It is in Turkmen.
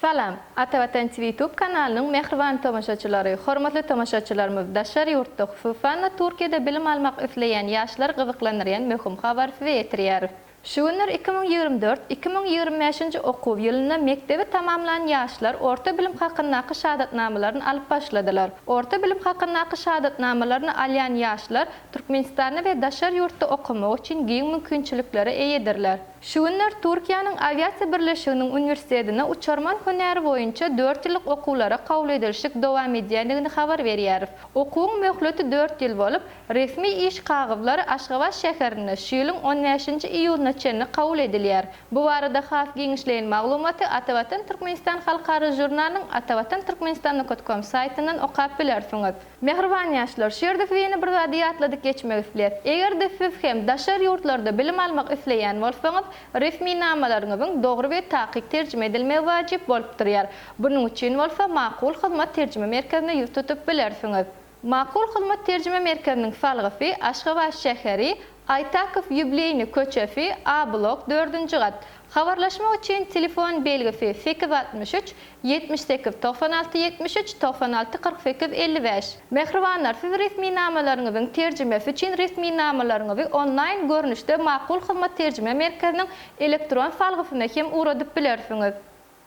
Salam! Atavatan TV YouTube kanalynyň mähriban tomaşaçylary, hormatly tomaşaçylarymyz, daşary ýurtda, hususan-da Türkiýede bilim almak isleýän ýaşlary gyzyklandyrýan möhüm habary size ýetirýäris. Şu günler iki müň ýigrimi dört, iki müň ýigrimi bäşinji okuw ýylynda mekdebi tamamlan ýaşlar orta bilim hakyndaky şahadatnamalaryny alyp başladylar. Orta bilim hakyndaky şahadatnamalaryny alýan ýaşlar Türkmenistanda we daşary ýurtda okamagy üçin giň mümkinçiliklere eýedirler. Şu günler Türkiýäniň Awiasiýa birleşiginiň uniwersitetine uçarman hünäri boýunça dört ýyllyk okuwlara kabul edilişik dowam edýändigini habar berýäris. Okuwyň möhleti dört ýyl bolup, Resmi iş kagyzlary Aşgabat şäherinde şu ýylyň on bäşinji iýunyna çenli kabul edilýär. Bu barada has giňişleýin maglumaty Atavatan Türkmenistan halkara žurnalynyň Atavatan Türkmenistan nukat kom saýtyndan okap bilersiňiz. Mähriban ýaşlar, şu ýerde size ýene bir zady ýatladyp geçmek isleýäs. Eger-de siz hem daşary ýurtlarda bilim almak isleýän bolsaňyz, resminamalaryňyzyň dogry we takyk terjime edilmegi wajyp bolup durýar. Bunuň üçin bolsa Makul hyzmat terjime merkezine ýüz tutup bilersiňiz. Makul hyzmat terjime merkeziniň salgysy Aşgabat şäheri, Aýtakow ýubileýni köçesi, A-blok, dördünji gat. Habarlaşmak üçin telefon belgisi, sekiz altmyş üç, ýetmiş sekiz, togsan alty, ýetmiş üç, togsan alty, kyrk sekiz, elli bäş. Mähribanlar, siz resminamalaryňyzyň terjimesi üçin resminamalaryňyzy onlaýn görnüşde Makul hyzmat terjime merkeziniň elektron salgysyna hem ugradyp bilersiňiz.